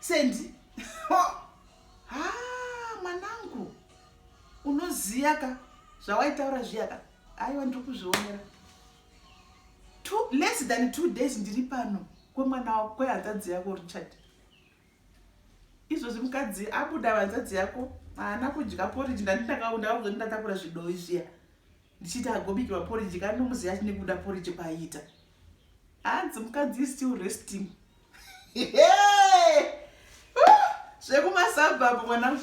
sendi mwanangu unoziyaka zvawaitaura zviyaka aiwa ndiri kuzvionera less than two days ndiri pano kwemwana wako kwehanzadzi yako richard izvozvi mukadzi abuda vanzadzi yako haana kudya poriji ndanditakaundaakuzondi ndatakura zvidoyi zviya ndichiti agobikirwa porridge kana ndomuziva achine kuda porridge kwaiita hanzi ah, mukadzi is still resting zvekumasabhabhu mwana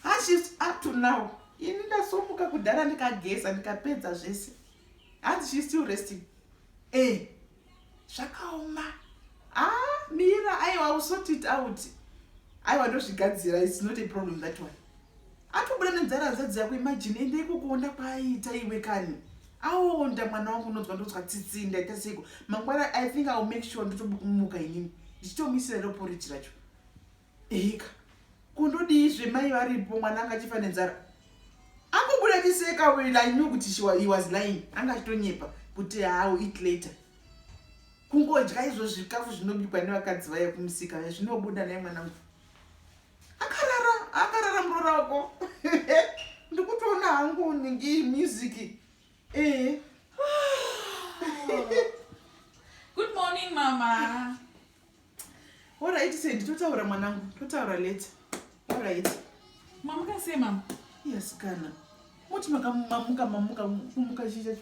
hashes ah, up to now ini ndasomuka kudhara ndikageza ndikapedza zvese hanzi ah, she still resting e eh, zvakaoma ah mira aiwa will sort it out aiwa ndozvigadzira its not a problem that one atobuda nenzara nzadzi yako imagine ende ikukuonda kwaaita iwe kani aonda mwana wangu unonzwa ndonzwa tsitsi ndaita seiko mangwana i think iwill make sure ndotobukumuka inini ndichitomuisira roporiji racho Eika kundodii zve mai varipo mwana anga achifa nenzara angobuda achiseka wena i knew kuti he was lying anga achitonyepa kuti hawo eat later kungodya izvo zvikafu zvinobikwa nevakadzi vaya kumusika vaya zvinobuda naye mwanangu akarara akarara murora wako ndikutoona hangu ningi music ee eh. good morning mama Alright said totaura mwanangu totaura later. Alright. Mamuka sei mama? Yes kana. Muti makamamuka mamuka kumuka chii chacho?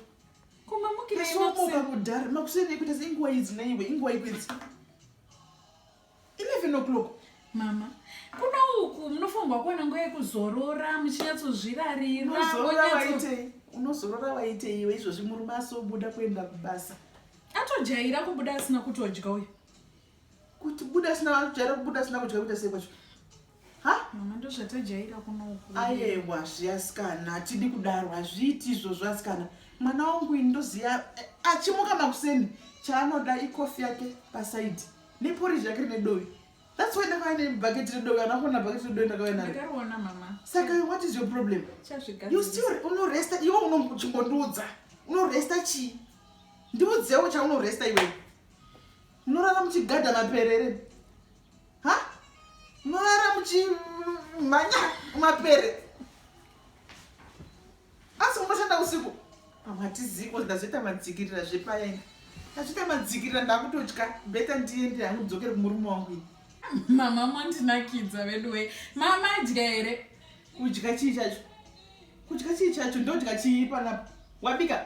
Kumamukira iwe makuseni. Somuka kudhara makuseni ikuita seinguwa idzi naiwe inguwa ikwidzi. 11 o'clock mama kuno uku munofanirwa kuwana nguva yekuzorora muchinyatsozvirarira unozorora waitei iwe izvozvi murume asobuda kuenda kubasa Atojaira kubuda asina kutodya uyu. Kuti buda asina kujaira kubuda asina kudya kuita sei kwacho? Ha? Mama ndozvatajaira kuno uku. Ayewa zviasikana atidi kudaro hazviiti izvozvo asikana. Mwana wangu ini ndoziya eh, achimuka makuseni chaanoda ikofi yake pasaidi neporiji yake rine dovi. That's why ndakauya nebhaketi redovi anakona bhaketi redovi ndakauya naro. Ndakariona mama. Saka what is your problem? Chazvigadzirisa. You still unoresta iwe unongochimbondiudza. Unoresta chii? ndiudzewo chaunoresta iwe munorara muchigadha maperere ha munorara muchimhanya mapere asi munoshanda usiku pamwe hatiziko ndazoita madzikirira zvepaya ini ndazoita madzikirira ndakutotya beta ndiende hangu dzokere kumurume wangu ini mama mondinakidza veduwe mama adya here kudya chii chacho kudya chii chacho ndodya chii panapo wabika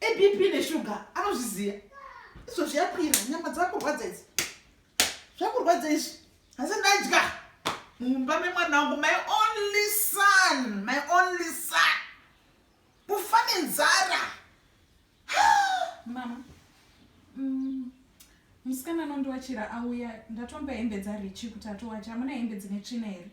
ebp neshuga anozviziva izvo zviyakwira nyama dzakurwadza idzi zvakurwadza izvi asi ndadya mumba memwana wangu my only son my only son kufa nenzara mama mm, musikana anondiwachira auya ndatomba hembe dzarichi kuti atowacha amuna hembe dzine tsvina here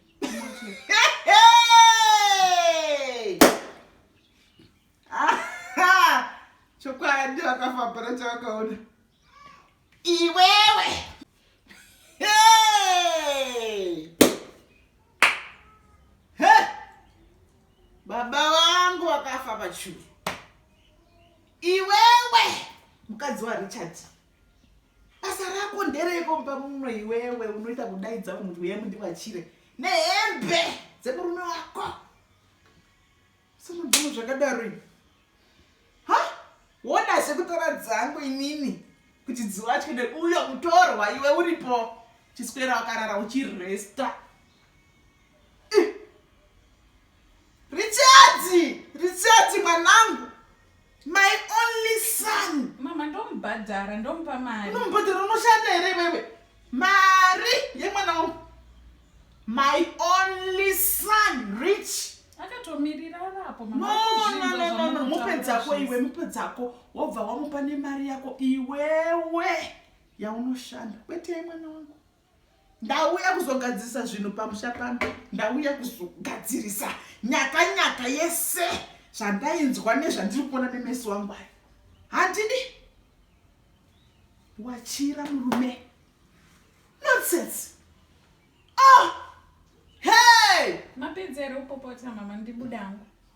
chokwadi vakafabara chavakaona iwewe baba wangu wakafa pachuru iwewe mukadzi warichard basa rako ndereiko mba muno iwewe unoita kudaidza vanhu kuti uye mundivachire nehembe dzemurume wako Sanobvuma zvakadaro ini. Ha? Wona zvekutora dzangu inini kuti dziwachwe neuyo kutorwa iwe uripo. Chiswera wakarara uchiresta. Richards! Richards mwanangu! my only son mama ndomubhadhara ndomupa mari unomubhadhara unoshanda here iwewe mari yemwana wangu my only son rich akatomirira arapo nonononono mupe dzako iwe mupe dzako wobva wamupa nemari yako iwewe yaunoshanda kwete yemwana wangu ndauya kuzogadzirisa zvinhu pamusha pano ndauya kuzogadzirisa nyaka nyaka yese zvandainzwa nezvandiri kuona nemeso wangu ayo handidi wachira murume nonsense oh! hey! mapedzero upopota mama ndibuda hangu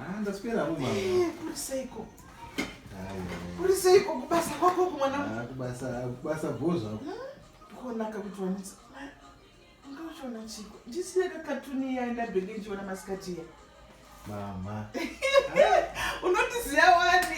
Ah, ndaswera mumama. Eh, kuri seiko? Kuri seiko kubasa kwako kumwana? Ah, kubasa kubasa bhozva. Hmm? Kuonaka kuti wanitsa. Ungachiona chiko. Ndisiye kakatuni ya ndabenge ndichiona masikati ya. Mama. Unotiziya wani?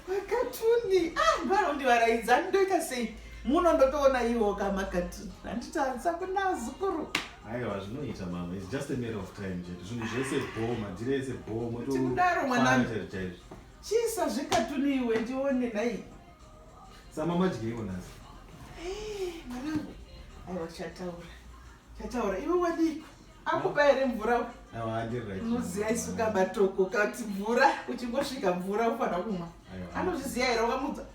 Makatuni. Ah, mbaro ndivaraidza ndoita sei? Muno ndotoona iwo kamakatuni. Handiti hansa kuna zukuru. Aiwa zvinoita mama it's just a matter of time chete zvinhu zvese bho madhiri ese bho mototikudaro mwanangu chaizvo chisa zvekatuni iwe ndione nhai samama dyeiko nhasi eh, mwanangu aiwa chataura chataura iwe wadiko akupa here mvura unoziva isu kabatoko kati mvura uchingosvika mvura ufanira kumwa anozviziva here wakamudza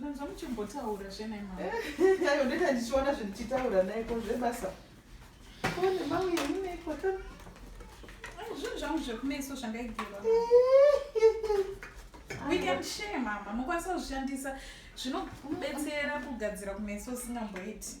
Nanzwa muchimbotaura zve nai mama. Ayo ndeta ndichiona zvindichitaura nai ko zvebasa. Ko nemamwe yemune kwata. Zvinhu zvangu zvekumeso zvangaigirwa. We can share mama, mukwanisa kuzvishandisa zvinobetsera kugadzira kumeso usingamboiti.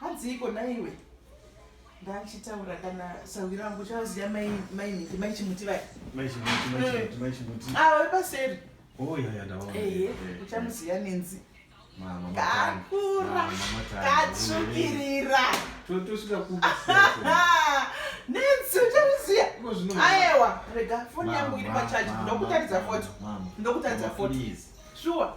hadziiko naiwe ndachitaura kana sahwi rangu uchaziva mainhingi mai chimuti vaya ava vepaseri uchamuziva nenzi kakura katsvukirira nenzi uchamuziva aewa rega foni yangu iri pachaji ndokutaridza foto ndokutaridza foto shuwa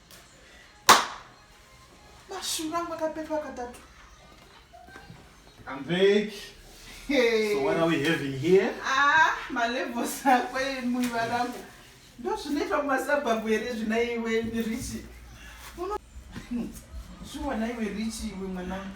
Mashura angu akapepa katatu. I'm back. Hey. So what are we having here? Ah, my levels are quite muy barato. Ndo zvinoitwa kumasabhabhu here zvina iwe Richi. Shuwa na iwe Richi iwe mwanangu.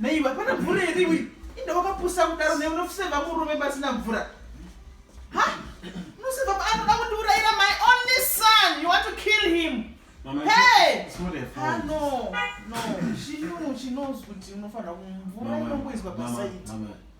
neiva pana mvura here iwe inde wakapusa kudaro ne unoseva murume pasina mvura ha unoseva anoda kundiurayira my only son you want to kill him hey ah, no no she knew she knows kuti unofanira kumvura inongoizwa pasaiti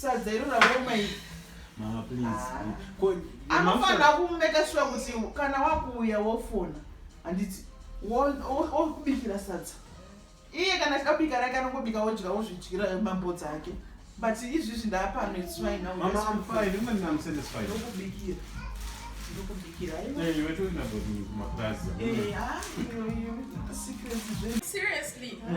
Sadza iro raoma iri. Mama please. Ko Anofanira kumeka sure kuti kana wakuuya wofona. Handiti wokubikira sadza. Iye kana akabika rake anongobika wodya wozvidyira mambo dzake. But izvizvi ndaapano it's fine now. Mama I'm fine. Even I'm satisfied. Ndokubikira. Ndokubikira. Eh, iwe turi na body kumaplaza. Eh, ah, iwe iwe. Secrets zve. Seriously. Mm.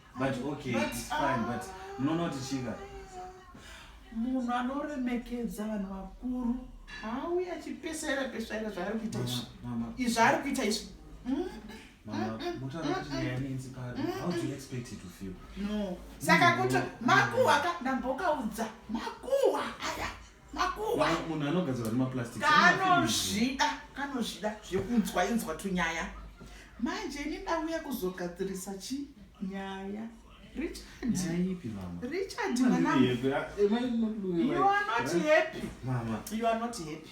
but okay but, it's fine but munoona kuti chinga munhu anoremekedza vanhu vakuru hauye achipesaira pesaira zvaari kuita izvi izvi ari kuita izvi mm, mm, mm, saka kuti makuhwa ka ndambokaudza makuhwa aya makuhwa munhu anogadzirwa nemaplastic kanozvida kanozvida zvekunzwa inzwa tunyaya manje ini ndauya kuzogadzirisa chi nyaya richard mwanangu you are not happy mama you are not happy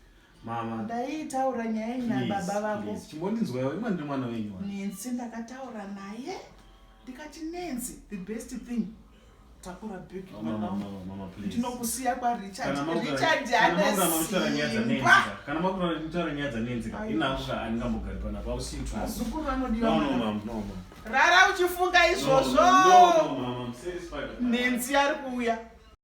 mama ndaitaura nyaya yenyu nababa vako chimbondinzwaiwo imwe ndiri mwana wenyu nensi ndakataura naye ndikati nensi the best thing takura big ndinokusiya kwarichardrichardhanesikana makura nditaura nyaya dzanenzika inanguka andingambogari panapa ausiitwazukuru vanodiwa rara uchifunga izvozvo nensi ari kuuya